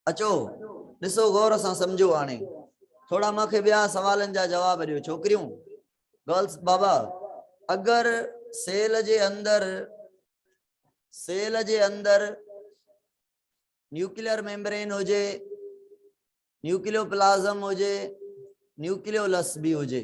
اچو ڏسو غور سان سمجهو هاڻي ٿورا مان کي ٻيا سوالن جا جواب ڏيو ڇوڪريون گرلس بابا اگر سيل جي اندر سيل جي اندر نيوڪليئر ميمبرين هجي نيوڪليو پلازم هجي نيوڪليو لس به هجي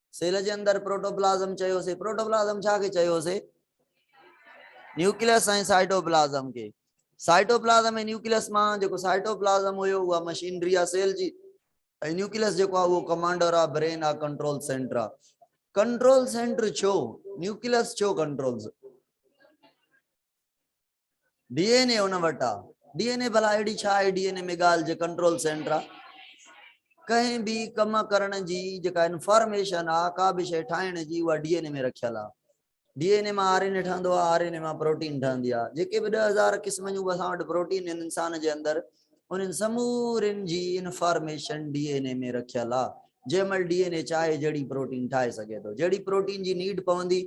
سيل جي اندر پروٽوپلازم چيوسي پروٽوپلازم ڇا کي چيوسي نيوڪليس ۽ سائٽوپلازم کي سائٽوپلازم ۽ نيوڪليس مان جيڪو سائٽوپلازم هيو اها مشينري آ سيل جي ۽ نيوڪليس جيڪو آ اهو ڪمانڊر آ برين آ ڪنٽرول سينٽر آ ڪنٽرول سينٽر ڇو نيوڪليس ڇو ڪنٽرول ڊي اين اي ان وٽ آ ڊي اين اي ڀلا اهڙي ڇا آهي ڊي اين اي ۾ ڳالهه جي ڪنٽرول سينٽر آ ڪنهن به ڪم ڪرڻ جي جيڪا انفارميشن آ ڪا به شيء ٺاهڻ جي اها ڊي اين اي ۾ رکيل آ ڊي اين اي مان آر اين اي ٺهندو آ آر اين اي مان پروٽين ٺهندي آ جيڪي به ڏهه هزار قسم جون اسان وٽ پروٽين انسان جي اندر انهن سمورين جي انفارميشن ڊي اين اي ۾ رکيل آ جنهن مهل ڊي اين اي چاهي جهڙي پروٽين ٺاهي سگهي ٿو جهڙي پروٽين جي نيڊ پوندي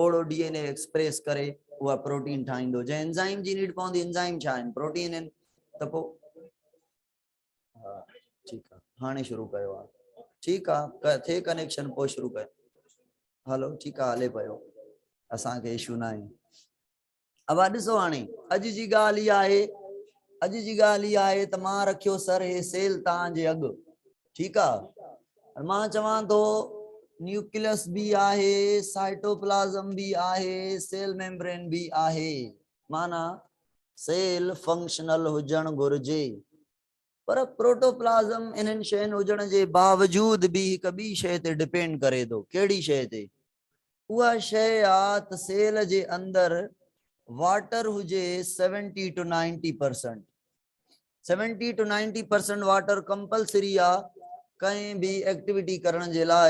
اوڙو ڊي اين اي ايڪسپريس ڪري اها پروٽين ٺاهيندو جنهن انزائيم جي نيڊ پوندي انزائيم ڇا آهن پروٽين آهن ته پو ها ٺيڪ آ هاڻي شروع ڪيو آ ٺيڪ آ ٿي ڪنيڪشن پو شروع ڪيو هلو ٺيڪ آ هلي پيو اسان کي اشو ناهي اوا ڏسو هاڻي اڄ جي ڳالهه هي آهي اڄ جي ڳالهه هي آهي ته مان رکيو سر هي سيل تان جي اڳ ٺيڪ آ مان چوان ٿو نيوڪليس به آهي سائٽوپلازم به آهي سيل ميمبرين به آهي معنی سيل فنڪشنل هجڻ گهرجي پر پروٽوپلازم انهن شين هجڻ جي باوجود به هڪ ٻي شيء تي ڊپينڊ ڪري ٿو. ڪهڙي شيء تي؟ اها شيء آ ته سيل جي اندر واٽر هجي seventy to ninety percent. Seventy to ninety percent water compulsory آ ڪنهن به ايڪٽيوٽي ڪرڻ جي لاء.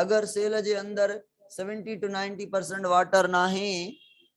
اگر سيل جي اندر seventy to ninety percent water ناهي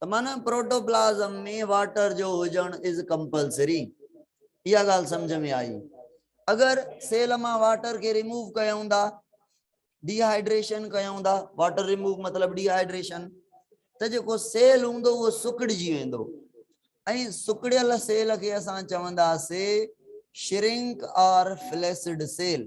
ته معنيٰ پروٽوپلازم ۾ واٽر جو هجڻ از ڪمپلسري اها ڳالهه سمجهه ۾ آئي اگر سيل مان واٽر کي ريموو ڪيون ٿا ڊي هائيڊريشن ڪيون ٿا واٽر ريموو مطلب ڊي هائيڊريشن ته جيڪو سيل هوندو اهو سڪڙجي ويندو ۽ سڪڙيل سيل کي اسان چونداسي شرنڪ آر فليسڊ سيل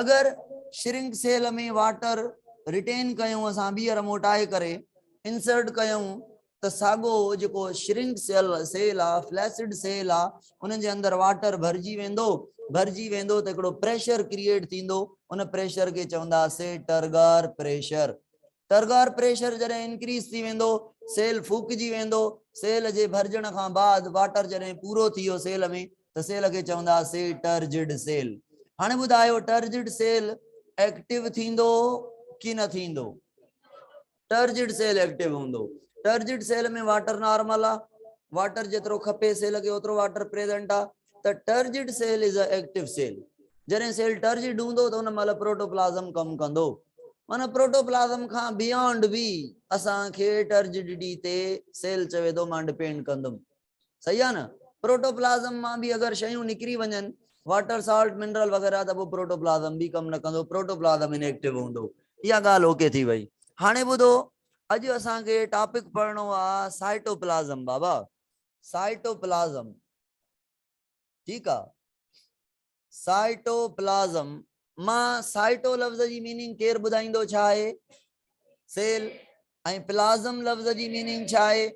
اگر شرنڪ سيل ۾ واٽر رٽين ڪيون اسان ٻيهر موٽائي ڪري انسرٽ ڪيون ته ساڳو جيڪو شرنڪ سيل سيل آ فليسڊ سيل آ انهن جي اندر واٽر ڀرجي ويندو ڀرجي ويندو ته هڪڙو پريشر ڪريئيٽ ٿيندو ان پريشر کي چوندا سي ٽرگار پريشر ٽرگر پريشر جڏهن انڪريز ٿي ويندو سيل ڦوڪجي ويندو سيل جي ڀرجڻ کان بعد واٽر جڏهن پورو ٿي ويو سيل ۾ ته سيل کي چوندا سي ٽرجڊ سيل هاڻي ٻڌايو ٽرجڊ سيل ايڪٽو ٿيندو ڪي نه ٿيندو ٽرجڊ سيل ايڪٽو هوندو ٽرجڊ سيل ۾ واٽر نارمل آ واٽر جيترو کپي سيل کي اوترو واٽر پريزنٽ آ ته turgid cell is a active cell جڏهن سيل ٽرجڊ هوندو ته ان مهل پروٽوپلازم ڪم ڪندو معنيٰ پروٽوپلازم کان بيانڊ به اسان کي ٽرجڊٽي تي سيل چوي ٿو مان ڊپينڊ ڪندم صحيح آ نه پروٽوپلازم مان به اگر شيون نڪري وڃن واٽر سالٽ منرل وغيرہ ته پوء پروٽوپلازم به ڪم نه ڪندو پروٽوپلازم ان ايڪٽو هوندو اها ڳالهه اوڪي ٿي وئي هاڻي ٻڌو اڄ اسان کي ٽاپڪ پڙهڻو آ سائٽوپلازم بابا سائٽوپلازم، ٺيڪ آ. سائٽوپلازم مان سائٽو لفظ جي ميننگ ڪير ٻڌائيندو ڇا آهي؟ سيل ۽ پلازم لفظ جي ميننگ ڇا آهي؟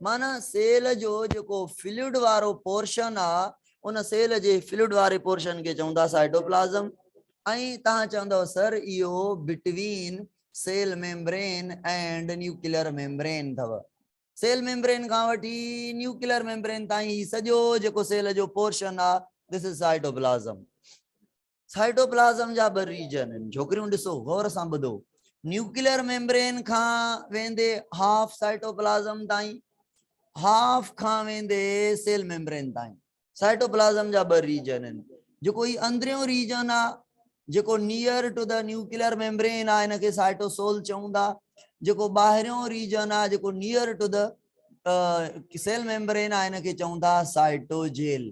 معنی سيل جو جيڪو فلوئڊ وارو پورشن آ ان سيل جي فلوئڊ واري پورشن کي چون ٿا سائٽوپلازم ۽ تهان چوندو سر اهو between cell membrane and nuclear membrane اٿو. سيل ميمبرين کان وٺي نيوڪلر ميمبرين تائين هي سڄو جيڪو سيل جو پورشن آ This is Cytoplasm. Cytoplasm جا ٻه ريجن آهن ڇوڪريون ڏسو غور سان ٻڌو نيوڪلر ميمبرين کان ويندي هاف سائٽوپلازم تائين هاف کان ويندي سيل ميمبرين تائين سائٽوپلازم جا ٻه ريجن آهن جيڪو هي اندريون ريجن آ جيڪو near to the nuclear membrane آ ان کي سائٽوسول چئون ٿا جيڪو ٻاهريون ريجن آ جيڪو near to the cell membrane آ ان کي چئون ٿا سائٽوجيل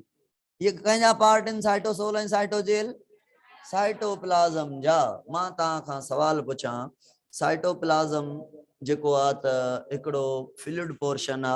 هي ڪنهن جا پارٽ آهن سائٽوسول ۽ سائٽوجيل سائٽوپلازم جا مان توهان کان سوال پڇان سائٽوپلازم جيڪو آ ته هڪڙو فلوئڊ پورشن آ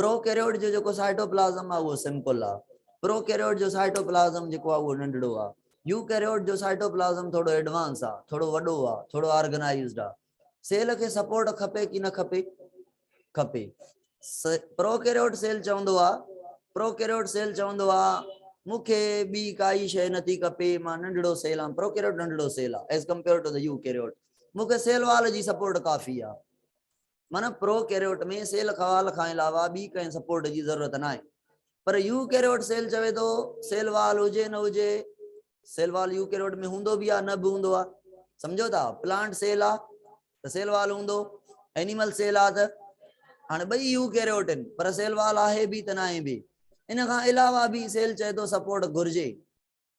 پروڪيريوٽ جو جيڪو سائٽوپلازم آهي اهو سمپل آهي. پروڪيريوٽ جو سائٽوپلازم جيڪو آهي اهو ننڍڙو آهي. يوڪيريوٽ جو سائٽوپلازم ٿورڙو ايڊوانس آهي، ٿورڙو وڏو آهي، ٿورڙو آرگنائيزڊ آهي. سيل کي سپورٽ کپي ڪي نه کپي؟ کپي. پروڪيريوٽ سيل چوندو آهي، پروڪيريوٽ سيل چوندو آهي مون کي ٻي ڪائي شيء نه ٿي کپي، مان ننڍڙو سيل آهيان. پروڪيريوٽ ننڍڙو سيل آهي As compared to the Eukaryote. مون کي سيل وال جي سپورٽ ڪافي آهي. معنيٰ پرو ڪيريوٽ ۾ سيل خوال کان علاوه ٻي ڪنهن سپورٽ جي ضرورت ناهي پر يو ڪيريوٽ سيل چوي ٿو سيل وال هجي نه هجي سيل وال يو ڪيريوٽ ۾ هوندو به آ نه به هوندو آ سمجهو ٿا پلانٽ سيل آ ته سيل وال هوندو اينيمل سيل آ ته هاڻي ٻئي يو ڪيريوٽ آهن پر سيل وال آهي به ته ناهي به ان کان علاوه به سيل چئي ٿو سپورٽ گهرجي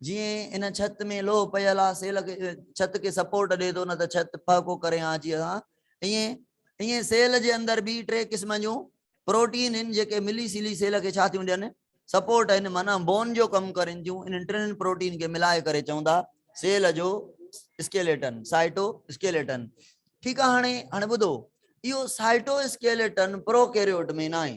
جيئن ان ڇت ۾ لوهه پيل آ سيل کي ڇت کي سپورٽ ڏي ٿو نه ته ڇت پهڪو ڪري آ جي اسان ائين ائين سيل جي اندر به ٽي قسمن جون پروٽين ان جيڪي ملي سيلي سيل کي ڇا ٿيون ڏين سپورٽ ان معنيٰ بون جو ڪم ڪرين ٿيون انهن ٽنهن پروٽين کي ملائي ڪري چون ٿا سيل جو اسڪيليٽن سائٽو اسڪيليٽن ٺيڪ آ هاڻي هاڻي ٻڌو اهو سائٽو اسڪيليٽن پروڪيريوٽ ۾ ناهي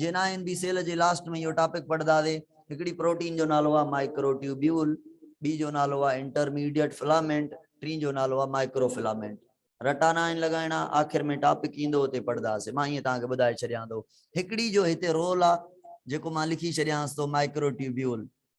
جن آء اين بي سيل جي لاسٽ ۾ اهو ٽاپڪ پڙهنداسي. هڪڙي پروٽين جو نالو آهي مائڪروٽيوبيول، ٻي جو نالو آهي انٽرميڊيئيٽ فلامينٽ، ٽين جو نالو آهي مائڪروفلامينٽ. رٽا ناهن لڳائڻا، آخر ۾ ٽاپڪ ايندو اتي پڙهنداسي. مان ائين توهان کي ٻڌائي ڇڏيان ٿو. هڪڙي جو هتي رول آهي، جيڪو مان لکي ڇڏيانس ٿو مائڪروٽيوبيول.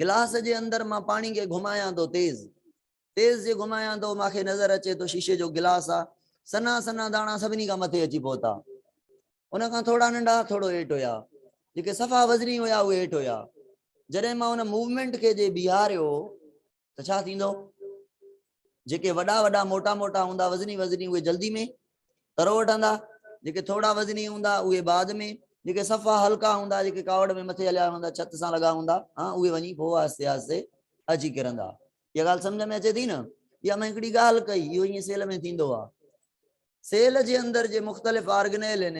گلاس جي اندر مان پاڻي کي گهمايان ٿو تيز تيز جي گهمايان ٿو مان کي نظر اچي ٿو شيشي جو گلاس آ سنا سنا داڻا سڀني کان مٿي اچي پهتا ان کان ٿورا ننڍا ٿورو هيٺ هيا جيڪي صفا وزني هيا اهي هيٺ هيا جڏهن مان ان موومينٽ کي جي بيهاريو ته ڇا ٿيندو؟ جيڪي وڏا وڏا موٽا موٽا هوندا وزني وزني اهي جلدي ۾ ترو وٺندا جيڪي ٿورا وزني هوندا اهي بعد ۾ جيڪي صفا هلڪا هوندا جيڪي ڪاوڙ ۾ مٿي هليا ويندا ڇت سان لڳا هوندا ها اهي وڃي پوء آهستي آهستي اچي ڪرندا اها ڳالهه سمجھ ۾ اچي ٿي نه يا ۾ هڪڙي ڳالهه ڪئي اهو ائين سيل ۾ ٿيندو آهي سيل جي اندر جي مختلف آرگنيل آهن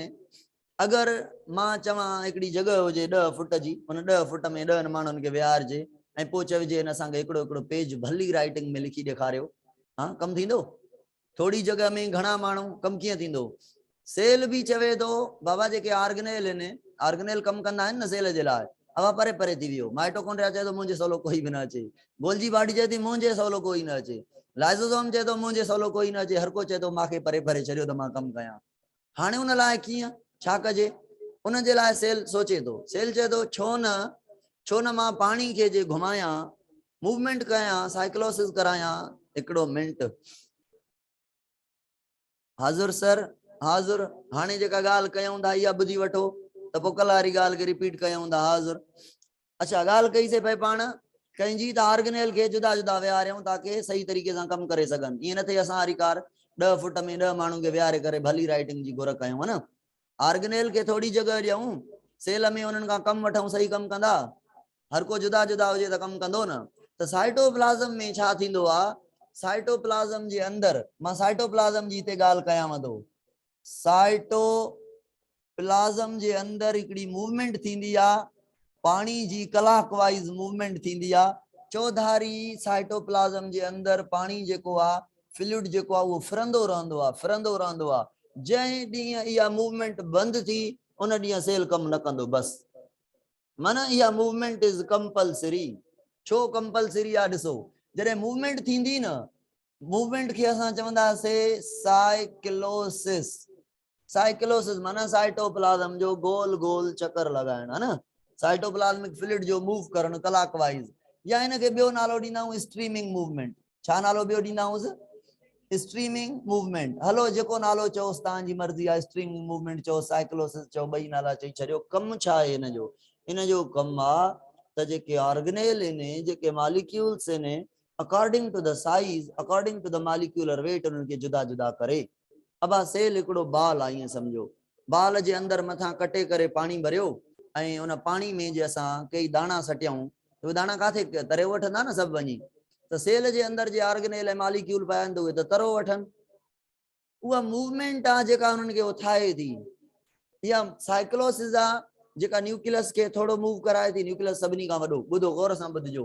اگر مان چوان هڪڙي جڳهه هجي ڏهه فٽ جي ان ڏهه فٽ ۾ ڏهن ماڻهن کي ويهارجي ۽ پوء چئجي هن اسان کي هڪڙو هڪڙو پيج ڀلي رائٽنگ ۾ لکي ڏيکاريو ها ڪم ٿيندو؟ ٿوري جڳهه ۾ گهڻا ماڻهو ڪم ڪيئن ٿيندو؟ سيل به چوي ٿو بابا جيڪي آرگنيل هن آرگنيل ڪم ڪندا آهن نه سيل جي لاء اها پري پري ٿي ويو مائٽوڪونڊريا چئي ٿو منهنجي سولو ڪوئي به نه اچي گولجي باڊي چئي ٿي منهنجي سولو ڪوئي نه اچي لائزوزوم چئي ٿو منهنجي سولو ڪوئي نه اچي هر ڪو چئي ٿو مان کي پري پري ڇڏيو ته مان ڪم ڪيان هاڻي ان لاء ڪيئن ڇا ڪجي؟ ان جي لاء سيل سوچي ٿو. سيل چئي ٿو، ڇو نه ڇو نه مان پاڻي کي جي گهمايان، موومينٽ ڪيان، سائيڪلوسز ڪرايان. هڪڙو منٽ. حاضر سر، حاضر، هاڻي جيڪا ڳالهه ڪيئون ٿا اها ٻڌي وٺو ته پوء ڪلهه واري ڳالهه کي رپيٽ ڪيئون ٿا. حاضر، اچا ڳالهه ڪئي سي پئي پاڻ ڪنهن جي ته آرگنيل کي جدا جدا ويهاريون تاڪي صحيح طريقي سان ڪم ڪري سگهن ائين نه ٿئي اسان واري ڪار ڏهه فٽ ۾ ڏهه ماڻهن کي ويهاري ڪري ڀلي رائٽنگ جي گهر ڪيون نه آرگنيل کي ٿوري جڳهه ڏيون سيل ۾ انهن کان ڪم وٺون صحيح ڪم ڪندا هر ڪو جدا جدا هجي ته ڪم ڪندو نه ته سائٽوپلازم ۾ ڇا ٿيندو آهي سائٽوپلازم جي اندر مان سائٽوپلازم جي هتي ڳالهه ڪيانو سائٽو پلازم جي اندر هڪڙي موومينٽ ٿيندي آ پاڻي جي ڪلاڪ وائيز موومينٽ ٿيندي آ چوڌاري سائٽوپلازم جي اندر پاڻي جيڪو آ فلوئڊ جيڪو آ اهو ڦرندو رهندو آ ڦرندو رهندو آ جنهن ڏينهن اها موومينٽ بند ٿي ان ڏينهن سيل ڪم نه ڪندو بس من اها موومينٽ از ڪمپلسري ڇو ڪمپلسري آ ڏسو جڏهن موومينٽ ٿيندي نه موومينٽ کي اسان چوندا سي سائيڪلوسس سائيڪلوسس معنيٰ سائٽوپلازم جو گول گول چڪر لڳائڻ ها نه سائٽوپلازمڪ فلوئڊ جو موو ڪرڻ ڪلاڪ وائيز يا هن کي ٻيو نالو ڏيندا آهيون اسٽريمنگ موومينٽ ڇا نالو ٻيو ڏيندا آهيونس اسٽريمنگ موومينٽ هلو جيڪو نالو چئوس تان جي مرضي آهي اسٽريمنگ موومينٽ چئو سائيڪلوسس چئو ٻئي نالا چئي ڇڏيو ڪم ڇا آهي هن جو ان جو ڪم آ ته جيڪي آرگنيل آهن جيڪي ماليڪيولز آهن according to the size according to the molecular weight انهن کي جدا جدا ڪري ابا سيل هڪڙو بال آ ائين سمجهو. بال جي اندر مٿان ڪٽي ڪري پاڻي ڀريو ۽ ان پاڻي ۾ جي اسان ڪيئي داڻا سٽيائون ته اهي داڻا ڪاٿي تريو وٺندا نه سڀ وڃي ته سيل جي اندر جي آرگنيل ۽ ماليڪيول پيا آهن ته اهي ته ترو وٺن. اها موومينٽ آ جيڪا انهن کي اٿائي ٿي. اها سائيڪلوسز آ جيڪا نيوڪليس کي ٿورو موو ڪرائي ٿي. نيوڪليس سڀني کان وڏو. ٻڌو غور سان ٻڌجو.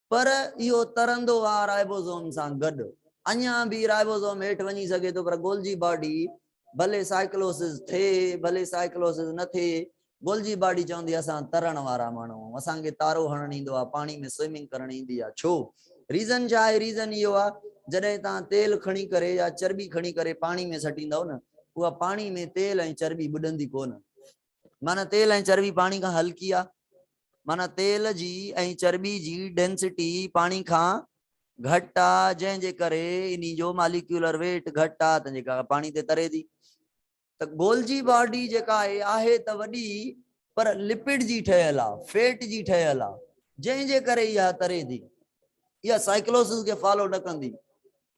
پر اهو ترندو آء رائبوزوم سان گڏ اڃا به رائبوزوم هيٺ وڃي سگهي ٿو پر گولجي باڊي ڀلي سائيڪلوسز ٿئي ڀلي سائيڪلوسز نه ٿئي گولجي باڊي چوندي اسان ترڻ وارا ماڻهو آهيون اسان کي تارو هڻڻ ايندو آهي پاڻي ۾ سوئمنگ ڪرڻ ايندي آهي ڇو ريزن ڇا آهي ريزن اهو آهي جڏهن توهان تيل کڻي ڪري يا چرٻي کڻي ڪري پاڻي ۾ سٽيندؤ نه اها پاڻي ۾ تيل ۽ چرٻي ٻڏندي ڪونه معنيٰ تيل ۽ چرٻي پاڻي کان هلڪي آهي. معنيٰ تيل جي ۽ چرٻي جي ڊينسٽي پاڻي کان گهٽ آهي، جنهن جي ڪري انهي جو ماليڪيولر ويٽ گهٽ آهي ته جيڪا پاڻي تي تري ٿي ته گولجي باڊي جيڪا آهي آهي ته وڏي پر لپڊ جي ٺهيل آهي، فيٽ جي ٺهيل آهي، جنهن جي ڪري اها تري ٿي. اها سائيڪلوسس کي فالو نه ڪندي.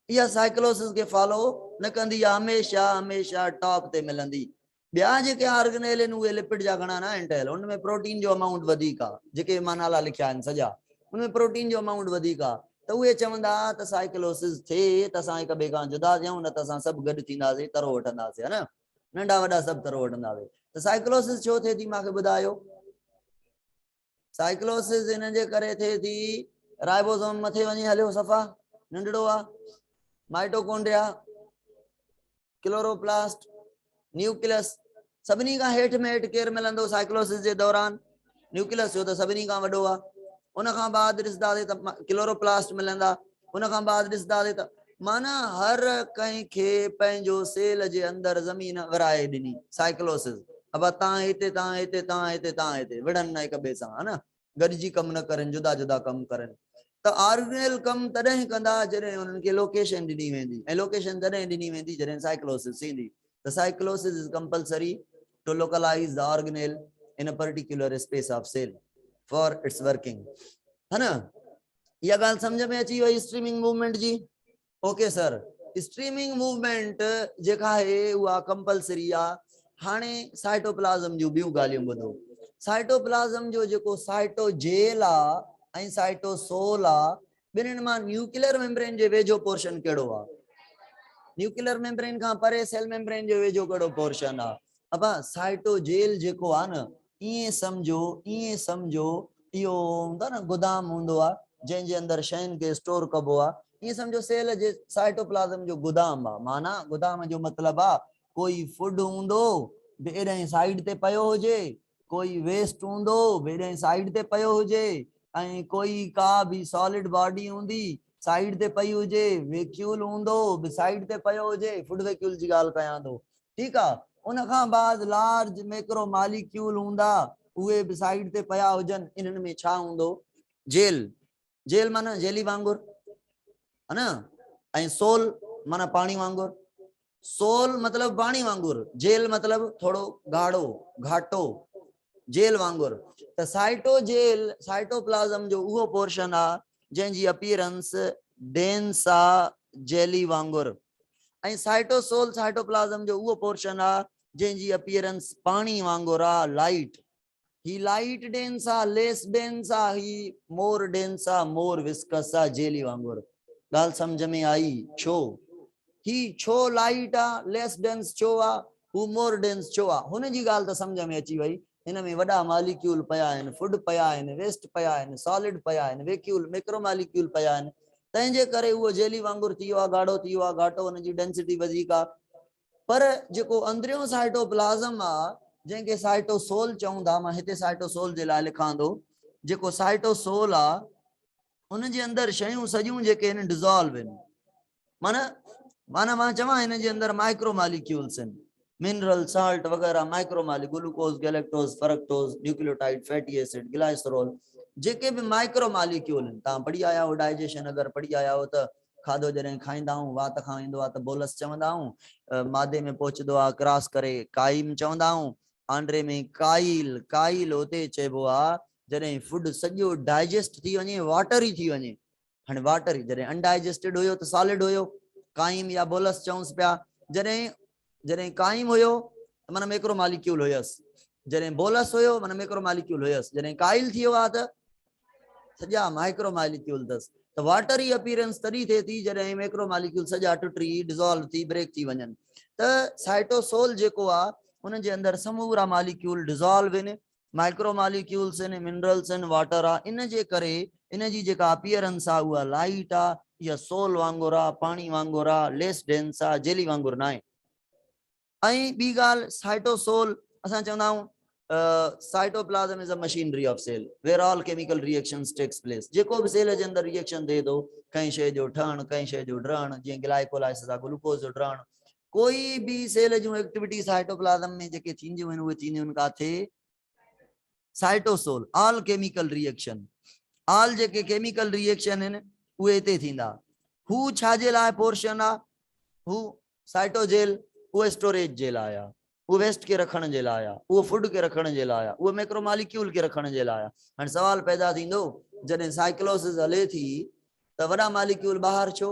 اها سائيڪلوسس کي فالو نه ڪندي. اها هميشه هميشه ٽاپ تي ملندي. ٻيا جيڪي آرگنيل آهن اهي لپڊ جا گهڻا ناهن ٺهيل ان ۾ پروٽين جو امائونٽ وڌيڪ آهي جيڪي به مان نالا لکيا آهن سڄا ان ۾ پروٽين جو امائونٽ وڌيڪ آهي ته اهي چوندا ته سائيڪلوسز ٿئي ته اسان هڪ ٻئي کان جدا ٿيون نه ته اسان سڀ گڏ ٿينداسي ترو وٺنداسي ها نه ننڍا وڏا سڀ ترو وٺنداسي ته سائيڪلوسز ڇو ٿئي ٿي مانکي ٻڌايو سائيڪلوسس ان جي ڪري ٿئي ٿي رائبوزوم مٿي وڃي هليو صفا ننڍڙو آ مائٽوڪونڊريا ڪلوروپلاسٽ نيوڪلس سڀني کان هيٺ ۾ هيٺ ڪير ملندو سائيڪلوسس جي دوران نيوڪلس جو ته سڀني کان وڏو آ ان کان بعد ڏسنداسي ته ڪلوروپلاسٽ ملندا ان کان بعد ڏسنداسين ته معنيٰ هر ڪنهن کي پنهنجو سيل جي اندر زمين ورائي ڏني سائيڪلوسز ابا تان هتي تان هتي تان هتي تان هتي وڙهن نه هڪ ٻئي سان ها نه گڏجي ڪم نه ڪرين جدا جدا ڪم ڪرين ته آرگنيل ڪم تڏهن ڪندا جڏهن انهن کي لوڪيشن ڏني ويندي ۽ لوڪيشن تڏهن ڏني ويندي جڏهن سائيڪلوسز ٿيندي ته cyclosis is compulsory to localize the organelle in particular space of cell for its working ها نه اها ڳالهه سمجهه ۾ اچي وئي اسٽريمنگ موومينٽ جي اوڪي سر اسٽريمنگ موومينٽ جيڪا آهي اها ڪمپلسري آ هاڻي سائٽوپلازم جون ٻيون ڳالهيون ٻڌو سائٽوپلازم جو جيڪو سائٽو جيل آ ۽ سائٽو سول آ ٻنهن مان نيوڪلر ميمبرين جي ويجهو پورشن ڪهڙو آ نيوڪلر ميمبرين کان پري سيل ميمبرين جو ويجهو ڪهڙو پورشن آ ابا سائٽو جيل جيڪو آ نه ائين سمجهو، ائين سمجهو اهو هوندو آهي نه گدام هوندو آهي جنهن جي اندر شين کي اسٽور ڪبو آهي، ائين سمجهو سيل جي سائٽوپلازم جو گدام آهي، معنيٰ گدام جو مطلب آهي ڪوئي فوڊ هوندو به ايڏانهن سائيڊ تي پيو هجي، ڪوئي ويسٽ هوندو به ايڏانهن سائيڊ تي پيو هجي ۽ ڪوئي ڪا به سالڊ باڊي هوندي سائيڊ تي پئي هجي، ويڪيول هوندو به سائيڊ تي پيو هجي، فوڊ ويڪيول جي ڳالهه ڪيان ٿو، ٺيڪ آ ان کان بعد لارج ميڪرو ماليڪيول هوندا اهي به سائيڊ تي پيا هجن انهن ۾ ڇا هوندو جيل جيل معنيٰ جيلي وانگر ها نه ۽ سول معنيٰ پاڻي وانگر سول مطلب پاڻي وانگر جيل مطلب ٿورو گاڙو گھاٽو جيل وانگر ته سائيٽو جيل سائيٽو پلازم جو اهو پورشن آ جنهن جي اپيرنس ڊينس آ جيلي وانگر ۽ سائٽوسول سائٽوپلازم جو اهو پورشن آ جنهن جي اپيئرنس پاڻي وانگر آ لائٽ هي لائٽ ڊينس آ ليس ڊينس آ هي مور ڊينس آ مور وسڪس آ جيلي وانگر ڳالهه سمجهه ۾ آئي ڇو هي ڇو لائٽ آ ليس ڊينس ڇو آ هو مور ڊينس ڇو آ هن جي ڳالهه ته سمجهه ۾ اچي وئي ان ۾ وڏا ماليڪيول پيا آهن، فوڊ پيا آهن، ويسٽ پيا آهن، سالڊ پيا آهن، ويڪيول، ميڪرو ماليڪيول، پيا آهن، تنهن جي ڪري اهو جيلي وانگر ٿي ويو آهي، گاڙهو ٿي ويو آهي، گهاٽو، ان جي ڊينسٽي وڌيڪ آهي. پر جيڪو اندريون سائٽوپلازم آهي، جنهن کي سائٽوسول چئون ٿا، مان هتي سائٽوسول جي لاء لکان ٿو، جيڪو سائٽوسول آهي، ان جي اندر شيون سڄيون جيڪي آهن، ڊزالو آهن. معنيٰ معنيٰ مان چوان هن جي اندر مائڪرو ماليڪيولز آهن منرل سالٽ وغيره مائڪرو مالي glucose galactose fructose nucleotide fatty acid glycerol جيڪي به مائڪرو ماليڪيول آهن تان پڙهي آيا آهو ڊائجيشن اگر پڙهي آيا آهو ته کاڌو جڏهن کائيندا آهون وات کان ايندو آهي ته بولس چوندا آهون مادي ۾ پهچندو آهي ڪراس ڪري قائم چوندا آهون آنڊري ۾ ڪائيل ڪائيل اتي چئبو آهي جڏهن فوڊ سڄو ڊائجيسٽ ٿي وڃي واٽر ئي ٿي وڃي هاڻي واٽر ئي جڏهن انڊائجسٽيڊ هيو ته سالڊ هيو قائم يا بولس چئونس پيا جڏهن جڏهن قائم هيو ته معنی ميڪرو ماليڪيول هيس جڏهن بولس هيو معنی ميڪرو ماليڪيول هيس جڏهن قائل ٿي ويو آ ته سڄا مائڪرو ماليڪيول اٿس ته واٽر جي اپيرنس تڏهن ٿئي ٿي جڏهن ميڪرو ماليڪيول سڄا ٽٽي ڊزالو ٿي بريڪ ٿي وڃن ته سائٽوسول جيڪو آ ان جي اندر سمورا ماليڪيول ڊزالو آهن مائڪرو ماليڪيولز آهن، منرلز آهن، واٽر آ، ان جي ڪري ان جي جيڪا اپيئرنس آ اها لائيٽ آ، اها سول وانگر آ، پاڻي وانگر آ، ليس ڊينس آ، جيلي وانگر ناهي. ۽ ٻي ڳالهه سائٽو سول، اسان چوندا آهيون cytoplasm is a machinery of cell where all chemical reactions takes place, جيڪو به سيل جي اندر ري ايڪشن ٿئي ٿو، ڪنهن شيء جو ٺهڻ، ڪنهن شيء جو ڊهڻ، جيئن گلائيڪولائسز آ گلوڪوز جو ڊهڻ، ڪوئي به سيل جون ايڪٽيوٽي سائٽوپلازم ۾ جيڪي ٿينديون آهن اهي ٿينديون آهن ڪاٿي cytosol all chemical reaction all جيڪي ڪيميڪل ريئيڪشن آهن اهي هتي ٿيندا هو ڇا جي لاء پورشن آ هو سائٽوجيل هو اسٽوريج جي لاء آ هو ويسٽ کي رکڻ جي لاء آ هو فوڊ کي رکڻ جي لاء آ هو ميڪرو ماليڪيول کي رکڻ جي لاء آ هن سوال پيدا ٿيندو جڏهن سائيڪلوسس هلي ٿي ته وڏا ماليڪيول ٻاهر ڇو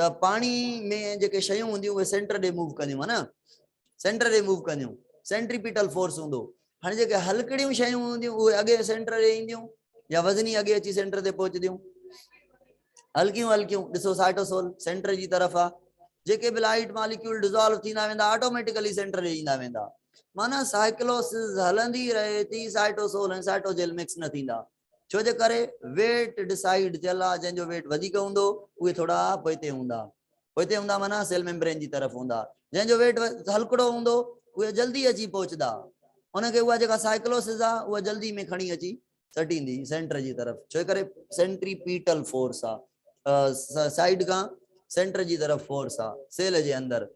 ته پاڻي ۾ جيڪي شيون هونديون اهي سينٽر ڏي موو ڪنديون ها نه سينٽر ڏي موو ڪنديون سينٽريپيٽل فورس هوندو هاڻي جيڪي هلڪڙيون شيون هونديون اهي اڳي سينٽر ڏي اينديون يا وزني اڳي اچي سينٽر تي پهچنديون هلڪيون هلڪيون ڏسو سائٽوسول سينٽر جي طرف آ جيڪي به لائٽ ماليڪيول ڊزالو ٿيندا ويندا آٽوميٽيڪلي سينٽر ڏي ايندا ويندا معنی سائيڪلوسز هلندي رهي ٿي سائٽوسول ۽ سائٽوجيل مڪس نه ٿيندا ڇو جي ڪري ويٽ ڊسائيڊ ٿيل آ جنهن جو ويٽ وڌيڪ هوندو اهي ٿورا پوئتي هوندا پوئتي هوندا معنيٰ سيل ميمبرين جي طرف هوندا جنهن جو ويٽ هلڪڙو هوندو اهي جلدي اچي پهچدا ان کي اها جيڪا سائيڪلوسز آ اها جلدي ۾ کڻي اچي سٽيندي سينٽر جي طرف ڇو ڪري سينٽري پيٽل فورس آ سائيڊ کان سينٽر جي طرف فورس آ سيل جي اندر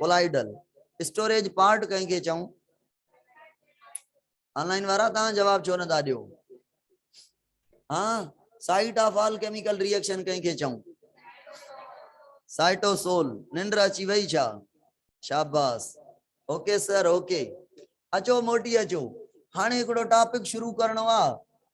ڪولائيڊل اسٽوريج پارٽ ڪنهن کي چئون؟ آنلائن وارا تان جواب ڇو نه ٿا ڏيو ها site of all chemical reaction ڪنهن کي چئون سائيٽو سول ننڊ اچي وئي ڇا شاباس اوڪي سر اوڪي اچو موٽي اچو هاڻي هڪڙو ٽاپڪ شروع ڪرڻو آ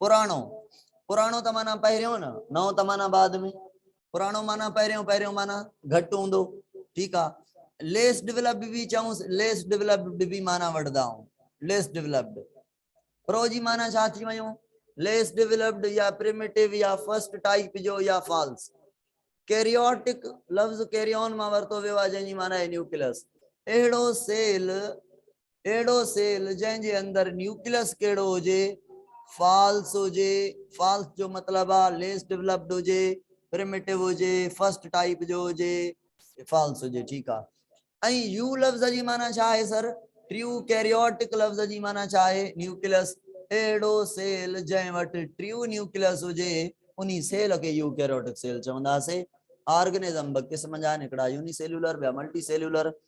پراڻو، پراڻو ته معنيٰ پهريون نه، نئون ته معنيٰ بعد ۾، پراڻو معنيٰ پهريون، پهريون معنيٰ گهٽ هوندو، ٺيڪ آ. ليس ڊولپڊ به چئونس، ليس ڊولپڊ به معنيٰ وٺدا آهون، ليس ڊولپڊ. پرو جي معنيٰ ڇا ٿي ويو؟ ليس ڊولپڊ يا پريميٽو يا فرسٽ ٽائيپ جو يا فالس. ڪيريوٽڪ، لفظ ڪيريون مان ورتو ويو آهي جنهن جي معنيٰ آهي نيوڪليس. اهڙو سيل اهڙو سيل جنهن جي اندر نيوڪليس ڪهڙو هجي، فالس هجي، فالس جو مطلب آ ليس ڊولپڊ هجي، پريميٽو هجي، فرسٽ ٽائيپ جو هجي، فالس هجي ٺيڪ آ. ۽ يو لفظ جي معنيٰ ڇا آهي سر؟ ٽيو ڪيريوٽڪ لفظ جي معنيٰ ڇا آهي؟ نيوڪليس اهڙو سيل جنهن وٽ ٽيو نيوڪليس هجي انهي سيل کي يو ڪيريوٽڪ سيل چوندا سي. آرگنزم ٻه قسم جا آهن هڪڙا يوني سيلولر ٻيا ملٽي سيلولر.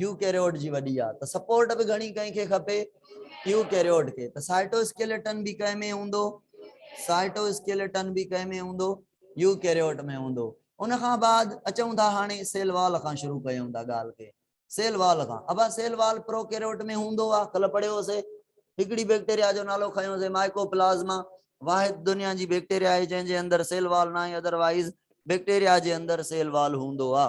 يوڪيريوٽ جي وڏي آ ته سپورٽ به گهڻي ڪنهن کي کپي؟ يوڪيريوٽ کي. ته سائٽوسڪيلٽن به ڪنهن ۾ هوندو؟ سائٽوسڪيلٽن به ڪنهن ۾ هوندو؟ يوڪيريوٽ ۾ هوندو. ان کان بعد اچون ٿا هاڻي سيل وال کان شروع ڪيون ٿا ڳالهه کي. سيل وال کان. ابا سيل وال پروڪيريوٽ ۾ هوندو آ. ڪلهه پڙهيو هوسي. هڪڙي بيڪٽيريا جو نالو کنيو هوسي مائيڪوپلازما. واحد دنيا جي بيڪٽيريا آهي جنهن جي اندر سيل وال ناهي ادر وائيز بيڪٽيريا جي اندر سيل وال هوندو آ.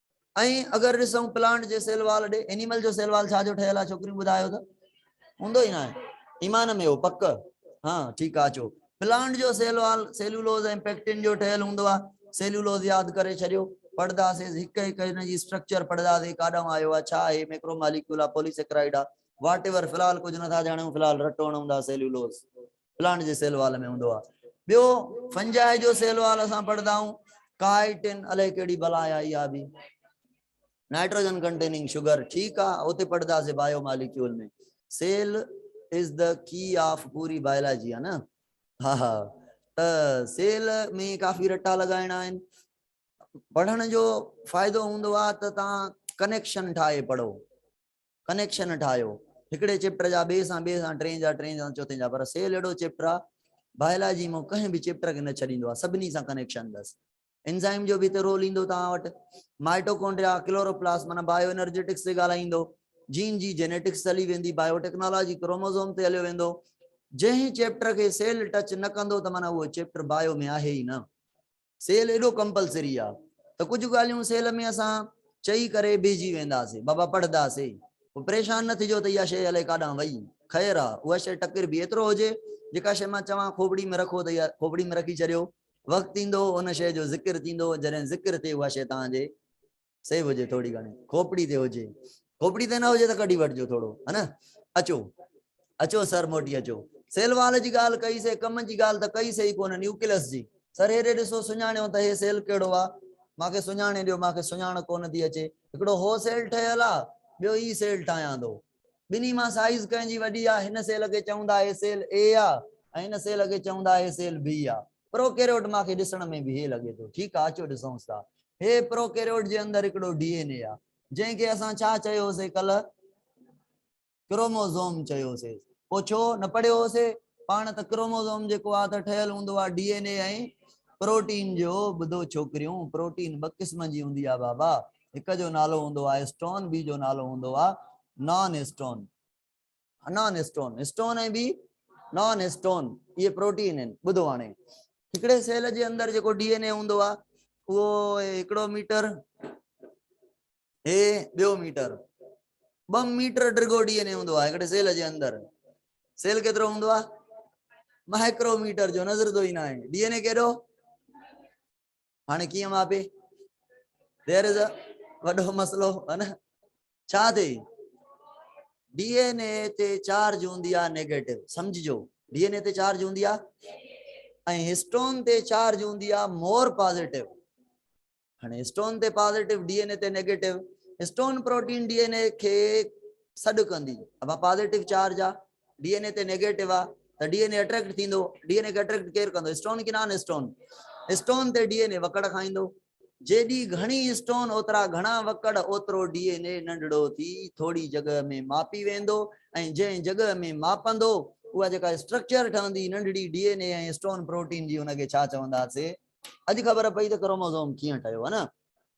۽ اگر ڏسون پلانٽ جي سيل وال ڏي انيمل جو سيل وال ڇا جو ٺهيل آهي ڇوڪريون ٻڌايو ته هوندو ئي ناهي ايمان ۾ هو پڪ ها ٺيڪ آ اچو پلانٽ جو سيل وال سيلولوز ۽ پيڪٽن جو ٺهيل هوندو آ سيلولوز ياد ڪري ڇڏيو پڙهداسيز هڪ هڪ هن جي اسٽرڪچر پڙهداسي ڪاڏانهن آيو آ ڇا آهي ميڪرو ماليڪيول آ پولي سيڪرائيڊ آ واٽ ايور في الحال ڪجهه نٿا ڄاڻيون في الحال رٽو هڻون ٿا سيلولوز پلانٽ جي سيل وال ۾ هوندو آهي ٻيو فنجائي جو سيل وال اسان پڙهندا آهيون ڪائٽن الائي ڪهڙي بلا آئي آ به نائٽروجن ڪنٽيننگ شوگر ٺيڪ آ اوتي پڙهدا سي biomolecule ۾ cell is the key of پوري بايولاجي آ نه ها ها ته سيل ۾ ڪافي رٽا لڳائڻا آهن پڙهڻ جو فائدو هوندو آ ته تان ڪنيڪشن ٺاهي پڙهو ڪنيڪشن ٺاهيو هڪڙي چيپٽر جا ٻئي سان ٻئي سان ٽئين جا ٽئين سان چوٿين جا پر سيل اهڙو چيپٽر آهي بايولاجي مون ڪنهن به چيپٽر کي نه ڇڏيندو آهي سڀني سان ڪنيڪشن اٿس انزائم جو به هتي رول ايندو توهان وٽ مائٽوڪونڊريا ڪلوروپلاسٽ معنيٰ بايو انرجيٽڪس تي ڳالهائيندو جين جي جينيٽڪس هلي ويندي بايو ٽيڪنالاجي ڪروموزوم تي هليو ويندو جنهن چيپٽر کي سيل ٽچ نه ڪندو ته معنيٰ اهو چيپٽر بايو ۾ آهي ئي نه سيل ايڏو ڪمپلسري آ ته ڪجهه ڳالهيون سيل ۾ اسان چئي ڪري بيهجي وينداسين بابا پڙهدا سي پوء پريشان نه ٿجو ته اها شيء الئي ڪاڏانهن وئي خير آ اها شيء ٽڪر به ايترو هجي جيڪا شيء مان چوان کوپڙي ۾ رکو ته اها کوپڙي ۾ رکي ڇڏيو وقت ايندو ان شيء جو ذڪر ٿيندو جڏهن ذڪر ٿئي اها شيء توهان جي سيو هجي ٿوري گهڻي کوپڙي تي هجي کوپڙي تي نه هجي ته ڪڍي وٺجو ٿورو ها نه اچو اچو سر موٽي اچو سيلوال جي ڳالهه ڪئي سي ڪم جي ڳالهه ته ڪئي سي ڪونه نيوڪلس جي سر هيڏي ڏسو سڃاڻيو ته هي سيل ڪهڙو آ ماکي سڃاڻي ڏيو ماکي سڃاڻ ڪونه ٿي اچي هڪڙو هو سيل ٺهيل آ ٻيو هي سيل ٺاهيان ٿو ٻنهي مان سائيز ڪنهن جي وڏي آ؟ هن سيل کي چوندا هي سيل اي آ ۽ هن سيل کي چوندا هي سيل بي آ. پروڪيريوٽ مان کي ڏسڻ ۾ به هي لڳي ٿو. ٺيڪ آ اچو ڏسونس ٿا. هي پروڪيريوٽ جي اندر هڪڙو ڊي اين اي آ. جنهن کي اسان ڇا چيو سي ڪلهه؟ ڪروموزوم چيو سي. پوء ڇو نه پڙهيو هو سي؟ پاڻ ته ڪروموزوم جيڪو آ ته ٺهيل هوندو آ ڊي اين اي ۽ پروٽين جو. ٻڌو ڇوڪريون پروٽين ٻه قسم جي هوندي آ بابا. هڪ جو نالو هوندو آهي اسٽون ٻي جو نالو هوندو آهي non histone non histone histone ۽ ٻي نان اسٽون اهي پروٽين آهن ٻڌو هاڻي هڪڙي سيل جي اندر جيڪو ڊي اين اي هوندو آهي اهو هڪڙو ميٽر هي ٻيو ميٽر ٻه ميٽر ڊگو ڊي اين اي هوندو آهي هڪڙي سيل جي اندر سيل ڪيترو هوندو آهي مائڪرو ميٽر جو نظر ٿو ئي نه آهي ڊي اين اي ڪيڏو هاڻي ڪيئن مابي دير از وڏو مسئلو ها نه ڇا ٿي ڊي اين اي تي چارج هوندي آ نيگيٽو سمجھجو ڊي اين اي تي چارج هوندي آ ۽ هسٽون تي چارج هوندي آ مور پازيٽو هاڻي هسٽون تي پازيٽو ڊي اين اي تي negative histone protein D N A کي سڏ ڪندي ابا پازيٽو چارج آ ڊي اين اي تي نيگيٽو آ ته ڊي اين اي اٽريڪٽ ٿيندو ڊي اين اي کي اٽريڪٽ ڪير ڪندو اسٽون ڪي نان اسٽون اسٽون تي ڊي اين اي وڪڙ کائيندو جيڏي گهڻي اسٽون اوترا گهڻا وڪڙ اوترو ڊي اين اي ننڍڙو ٿي ٿوري جڳهه ۾ ماپي ويندو ۽ جنهن جڳهه ۾ ماپندو اها جيڪا اسٽرڪچر ٺهندي ننڍڙي D N A ۽ histone protein جي ان کي ڇا چوندا سي اڄ خبر پئي ته ڪروموزوم ڪيئن ٺهيو ها نه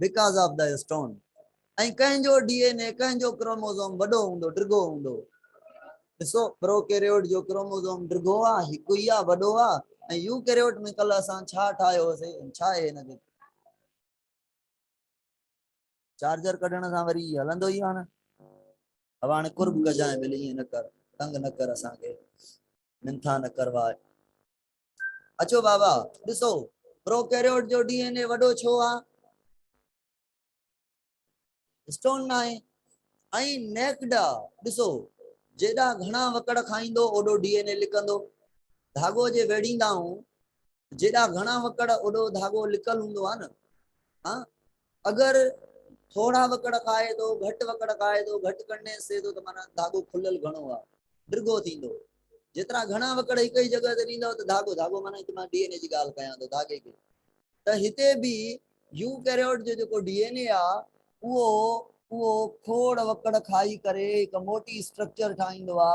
بڪاز آف دا اسٽون ۽ ڪنهن جو ڊي اين اي ڪنهن جو ڪروموزوم وڏو هوندو ڊگهو هوندو ڏسو پرو ڪيريوٽ جو ڪروموزوم ڊگهو آ هڪ ئي آ وڏو آ ۽ يو ڪيريوٽ ۾ ڪل اسان ڇا ٺاهيو هوسي ڇا اهي هن کي چارجر ڪڍڻ سان وري هلندو ئي آ نه اب هاڻي قرب ڪجانء ملي نه ڪر تنگ نه ڪر اسان کي منٿا نه ڪرواء اچو بابا ڏسو پروڪيريوٽ جو ڊي اين اي وڏو ڇو آ اسٽون ناهي ۽ نيڪڊا ڏسو جيڏا گھڻا وڪڙ کائيندو اوڏو ڊي اين اي لڪندو ڌاڳو جي ويڙهيندا آهون جيڏا گھڻا وڪڙ اوڏو ڌاڳو لڪل هوندو آ نه ها اگر ٿورا وڪڙ کائي ٿو، گهٽ وڪڙ کائي ٿو، گهٽ ڪنڊين سھي ٿو ته معنيٰ ڌاڳو کليل گهڻو آ، ڊگهو ٿيندو. جيترا گهڻا وڪڙ هڪ ئي جڳهه تي ڏيندؤ ته ڌاڳو، ڌاڳو معنيٰ هتي مان ڊي اين اي جي ڳالهه ڪيان ٿو ڌاڳي کي، ته هتي به يوڪيريوٽ جو جيڪو ڊي اين اي آ اهو اهو کوڙ وڪڙ کائي ڪري هڪ موٽي اسٽرڪچر ٺاهيندو آ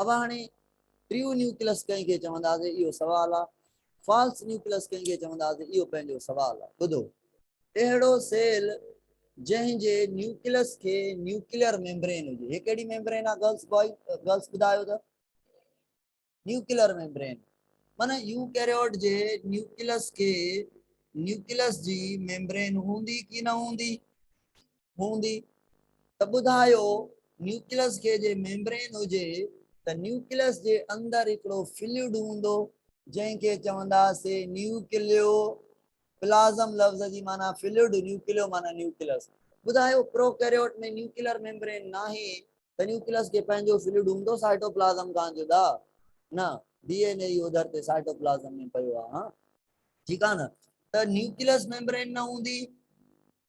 اوهان هاڻي ٽريو نيوڪلس ڪنهن کي چونداسي اهو سوال آ، فالس نيوڪلس ڪنهن کي چونداسي اهو پنهنجو سوال آ. ٻڌو! اهڙو سيل جنهن جي نيوڪلس کي نيوڪليئر ميمبرين هجي. هي ڪهڙي ميمبرين آ گرلس بوائز گرلس ٻڌايو ته؟ Nuclear membrane. معنيٰ يوڪيريوٽ جي نيوڪلس کي نيوڪلس جي ميمبرين هوندي ڪي نه هوندي؟ هوندي ته ٻڌايو نيوڪليس کي جي ميمبرين هجي ته نيوڪليس جي اندر هڪڙو فلوئڊ هوندو جنهن کي چونداسي نيوڪليو پلازم لفظ جي معنيٰ فلوئڊ نيوڪليو معنيٰ نيوڪليس ٻڌايو پروڪيريوٽ ۾ نيوڪلر ميمبرين ناهي ته نيوڪليس کي پنهنجو فلوئڊ هوندو سائٽوپلازم کان جدا نه ڊي اين اي اهو ڌرتي سائٽوپلازم ۾ پيو آهي ٺيڪ آهي نه ته نيوڪليس ميمبرين نه هوندي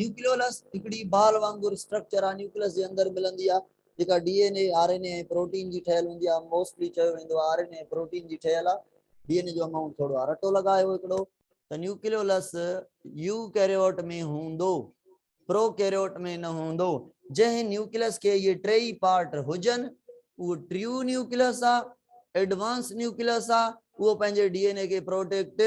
نيوڪليولس هڪڙي بال وانگر اسٽرڪچر آهي نيوڪليس جي اندر ملندي آهي جيڪا D N A, R N A ۽ protein جي ٺهيل هوندي آهي موسٽلي چيو ويندو آهي آر اين اي ۽ پروٽين جي ٺهيل آهي ڊي اين اي جو امائونٽ ٿورو آهي رٽو لڳايو هڪڙو ته نيوڪليولس يو ڪيريوٽ ۾ هوندو پرو ڪيريوٽ ۾ نه هوندو جنهن نيوڪليس کي اهي ٽي ئي پارٽ هجن اهو ٽريو نيوڪليس آهي ايڊوانس نيوڪليس آهي اهو پنهنجي ڊي اين اي کي پروٽيڪٽ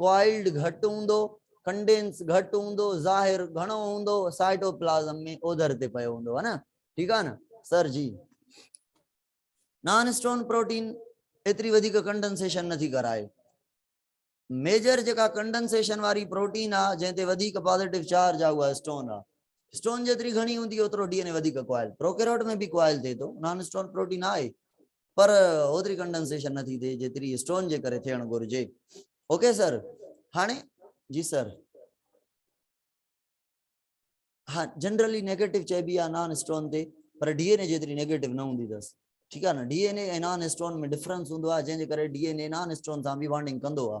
ڪوائلڊ گهٽ هوندو، ڪنڊينس گهٽ هوندو، ظاهر گهڻو هوندو، سائٽوپلازم ۾ اوڌر تي پيو هوندو ها نه ٺيڪ آ نه سر جي نان اسٽون پروٽين ايتري وڌيڪ ڪنڊنسيشن نه ٿي ڪرائي ميجر جيڪا ڪنڊنسيشن واري پروٽين آ جنهن تي وڌيڪ پازيٽو چارج آ اها اسٽون آ اسٽون جيتري گهڻي هوندي اوترو ڊي ان اي وڌيڪ ڪوائل پروڪيروٽ ۾ به ڪوائل ٿئي ٿو نان اسٽون پروٽين آهي پر اوتري ڪنڊنسيشن نه ٿي ٿئي جيتري اسٽون جي ڪري ٿيڻ گهرجي اوڪي سر هاڻي جي سر ها جنرلي نيگيٽو چئبي آ نان اسٽون تي پر ڊي اين اي جيتري نيگيٽو نه هوندي اٿس ٺيڪ آ نه D N A ۽ non histone ۾ difference هوندو آ جنهن جي ڪري D N A non histone سان به وانڊنگ ڪندو آ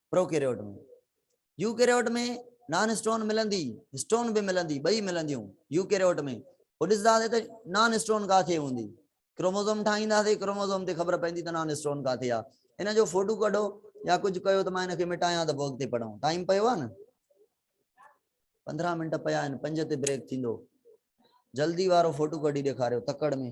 پروڪيريوٽ ۾ يوڪيريوٽ ۾ نان اسٽون ملندي اسٽون به ملندي ٻئي ملنديون يوڪيريوٽ ۾ پوء ڏسنداسي ته نان اسٽون ڪاٿي هوندي ڪروموزوم ٺاهينداسي ڪروموزوم تي خبر پوندي ته نان اسٽون ڪاٿي آ ان جو فوٽو ڪڍو يا ڪجهه ڪيو ته مان ان کي مٽايان ته پوء اڳتي پڙهون ٽائيم پيو آ نه 15 منٽ پيا آهن 5 تي بريڪ ٿيندو جلدي وارو فوٽو ڪڍي ڏيکاريو تڪڙ ۾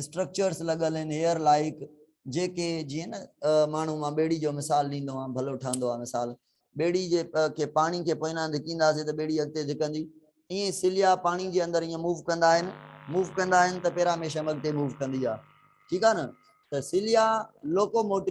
اسٽرڪچرس لڳل ان هيئر لائيڪ جيڪي جيئن نه ماڻهو مان ٻيڙي جو مثال ڏيندو آهيان ڀلو ٺهندو آهي مثال ٻيڙي جي کي پاڻي کي پوئنا ڌڪينداسين ته ٻيڙي اڳتي ڌڪندي ائين سليا پاڻي جي اندر ائين موو ڪندا آهن موو ڪندا آهن ته پيراميشم اڳتي موو ڪندي آهي ٺيڪ آهي نه ته سليا لوڪوموٽو